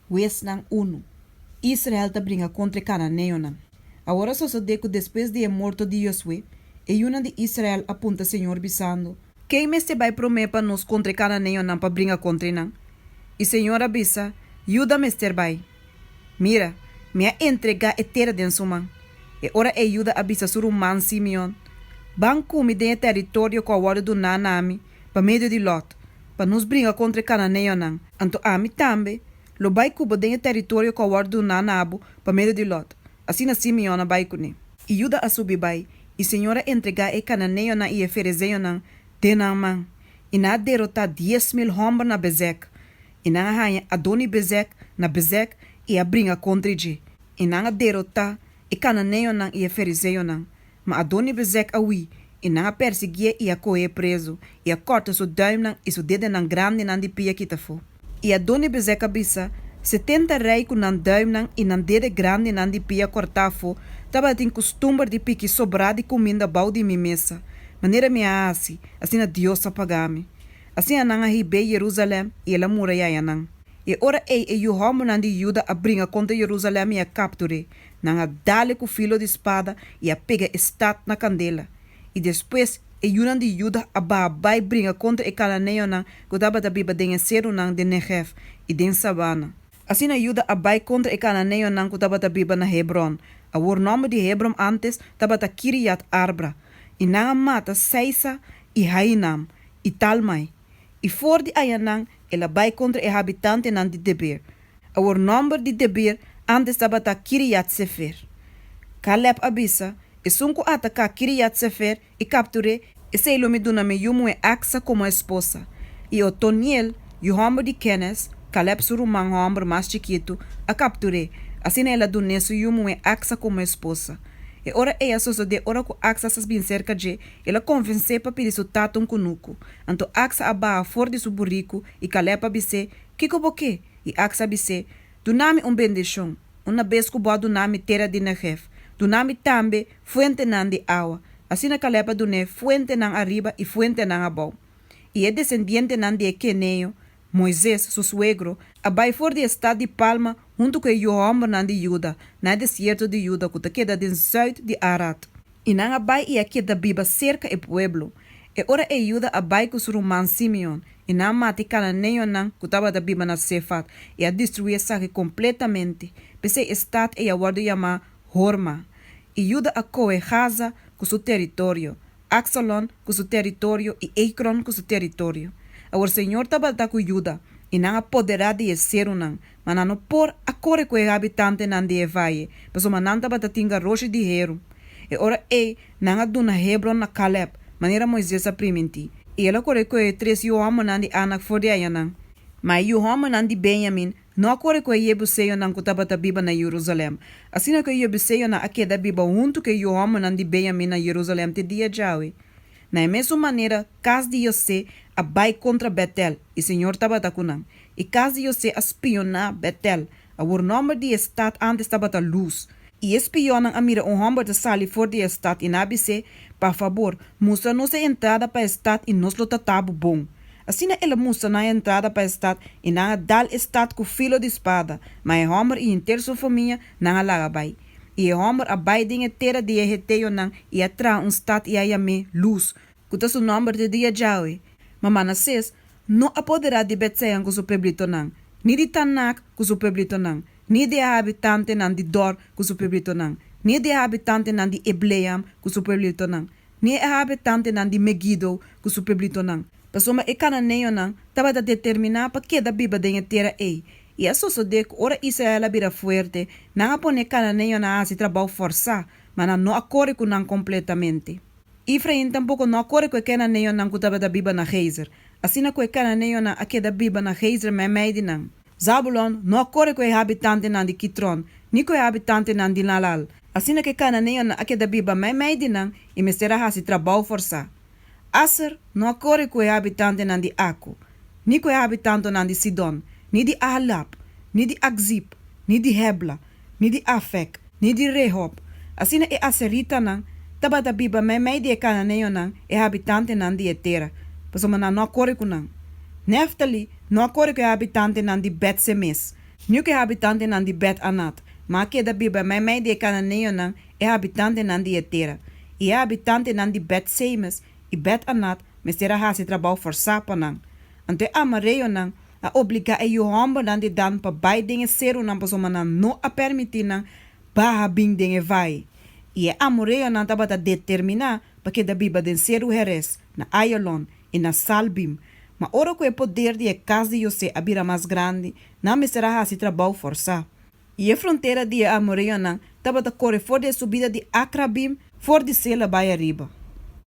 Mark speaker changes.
Speaker 1: Weznan unu. Israel ta bringa kontra e kananeonan. Awor a sosodé ku despues di e morto di Josue, e yunan di Israel a punta Señor bisando, Ken mester bai promé pa nos kontra e kananeonan pa bringa kontra e nan? I Señor a bisa, Yuda mester bai. Mira, mi a entregá e tera den su man. E ora ei Yuda a bisa su ruman Simeon, Ban kumi den e tèritorio ku a wòrdu duná na mi, pa medio di Lòt, pa nos bringa kontra e kananeonan, anto ami tambe lo bai ku bo den e tèritorio ku a wòrdu duná na bo pa medio di Lòt. Asina Simeon a bai kuné. I Judá a subi bai, i Señor a entregá e kananeonan i e ferezeonan den nan man, i nan a derotá dies mil hòmber na Bezèk. I nan a haña Adoni-Bezèk na Bezèk i a bringa kontra dje, i nan a derotá e kananeonan i e ferezeonan. Ma Adoni-Bezek a hui, i nan a persiguié i a kohéé prezu, i a kòrta su duimnan i su dedenan grandinan di pia kita afó. I Adoni-Bezek a bisa, Setenta rei ku nan duimnan i nan dede grandinan di pia kòrtá afó tabatin kustumber di piki sobrá di kuminda bou di mi mesa, manera mi a hasi, asina Dios a pagá mi. Asina nan a hib'é Yerusalèm i el a murayayanan. E ora ei e yu hòmbernan di Yuda a bringa kontra Yerusalèm i a kaptur'é, Nan a dale ku filo di spada i a pega e stat na kandela. I despues e yunan di Juda a baha bai bringa kontra e kananeonan ku tabata biba den e serunan den Negèf i den sabana. Asina Juda a bai kontra e kananeonan ku tabata biba na Hebròn, awor nòmber di Hebrom ántes tabata Kiriat-Arbra, i nan a mata Saisa i Hainam i Talmai. I for di ayanan el a bai kontra e habitantenan di Deber. Awor nòmber di Debir antes tabata Kiriat-Sefer. Kalèb a bisa, Esun ku a ta ka Kiriat-Sefer, i kaptur'é. Esei lo mi duna mi yu muhé Aksa komo esposa. I Otoniel, yu hòmber di Kènez, Kalèb su ruman hòmber mas chikitu, a kaptur'é, asina el a dun'é su yu muhé Aksa komo esposa. E ora ei a sosodé ora ku Aksa sa bin serka dje, el a konvens'é pa pidi su tata un kunuku. Anto Aksa a baha for di su buriku i Kalèb a bis'é, Kiko bo ke? I aks a bis'é, Duna mi un bendishon. Una bes ku bo a duna mi tera di Negèv, duna mi tambe fuentenan di awa. Asina Kalèb a dun'é fuentenan ariba i fuentenan abou. I e desendientenan di e keneo, Moises, su suegro, a bai for di e stat di Palma huntu ku e yu hòmbernan di Juda na e desierto di Juda ku ta keda den zùit di Arat. I nan a bai i a keda biba serka e pueblo. E ora ei Juda a bai ku su ruman Simeon, i nan a mata e kananeonan ku tabata biba na Sefat, i a destruí esaki kompletamente. P'esei e stat ei a wòrdu yamá Horma. I Juda a kohe Gaza ku su teritorio, Aksalon ku su teritorio i Ekron ku su teritorio. Awor Señor tabalta ku Juda, i nan a poderá di e serunan, ma nan no por a kore ku e habitantenan di e vaye, pasobra nan tabata tin garoshi di heru. E ora ei nan a duna Hebron na Kalèb, manera Moises a primintí, i el a kore ku e tres yu hòmbernan di Anak for di ayanan. Ma e yu hòmbernan di Benyamin no a kore ku e yebuseonan ku tabata biba na Yerusalèm, asina ku e yebuseonan a keda biba huntu ku e yu hòmbernan di Benyamin na Yerusalèm te dia djawe. Na e mesun manera kas di José a bai kontra Bètel, i Señor tabata ku nan. E cas di José a spioná Betel, awor nòmber di e stat ántes tabata Luz. I e spionnan a mira un hòmber ta sali for di e stat i nan a bis'é, Pa fabor, mustra nos e entrada pa e stat i nos lo ta ta bo bon. Asina el a mustra nan e entrada pa e stat i nan a dal e stat ku filo di spada, ma e hòmber i henter su famia, nan a laga bai. I e hòmber a bai den e tera di e heteonan i a traha un stat i a yam'é Luz, ku ta su nòmber te dia djawe, ma Manasés no apoderá di Bet-Sean ku su pueblitonan, ni di Tanak ku su pueblitonan, ni di e habitantenan di Dor ku su pueblitonan, ni di e habitantenan di Ibleam ku su pueblitonan, ni e habitantenan di Meguido ku su pueblitonan, pasobra e kananeonan tabata determiná pa keda biba den e tera ei. I a sosodé ku ora Israel a bira fuerte, nan a pone e kananeonan a hasi trabou fòrsá, ma nan no a kore ku nan kompletamente. Efrain tampoco no a core cu e cananeonan cu tabata biba na Gezer, asina cu e cananeonan a keda biba na Gezer meimei di nan. Zabulon no a core cu e habitantenan di Kitron, ni cu e habitantenan di Naalal, asina cu e cananeonan a keda biba meimei di nan y mester a haci trabou forsá. Aser no a core cu e habitantenan di Acco, ni cu e habitantonan di Sidon, ni di Ahalab, ni di Akzib, ni di Hebla, ni di Afec, ni di Rehob, asina e aseritanan tabata biba meimei di e cananeonan, e habitantenan di e tera, pasobra nan no a core cu nan. Neftali no a core cu e habitantenan di Bet-Semes, ni cu e habitantenan di Bet-Anat, ma a keda biba meimei di e cananeonan, e habitantenan di e tera. I e habitantenan di Bet-Semes i Bet-Anat mester a haci trabou forsá pa nan. Anto e amareonan a obligá e yu hòmbernan di Dan pa bai den e serunan pasobra nan no a pèrmití nan baha bin den e vai. I e amoreonan tabata determiná pa keda biba den seru Heres, na Aialon i na Saalbim. Ma ora ku e poder di e kas di José a bira mas grandi, nan mester a hasi trabou fòrsá. I e frontera di e amoreonan tabata kore for di e subida di Akrabim, for di Sela bai ariba.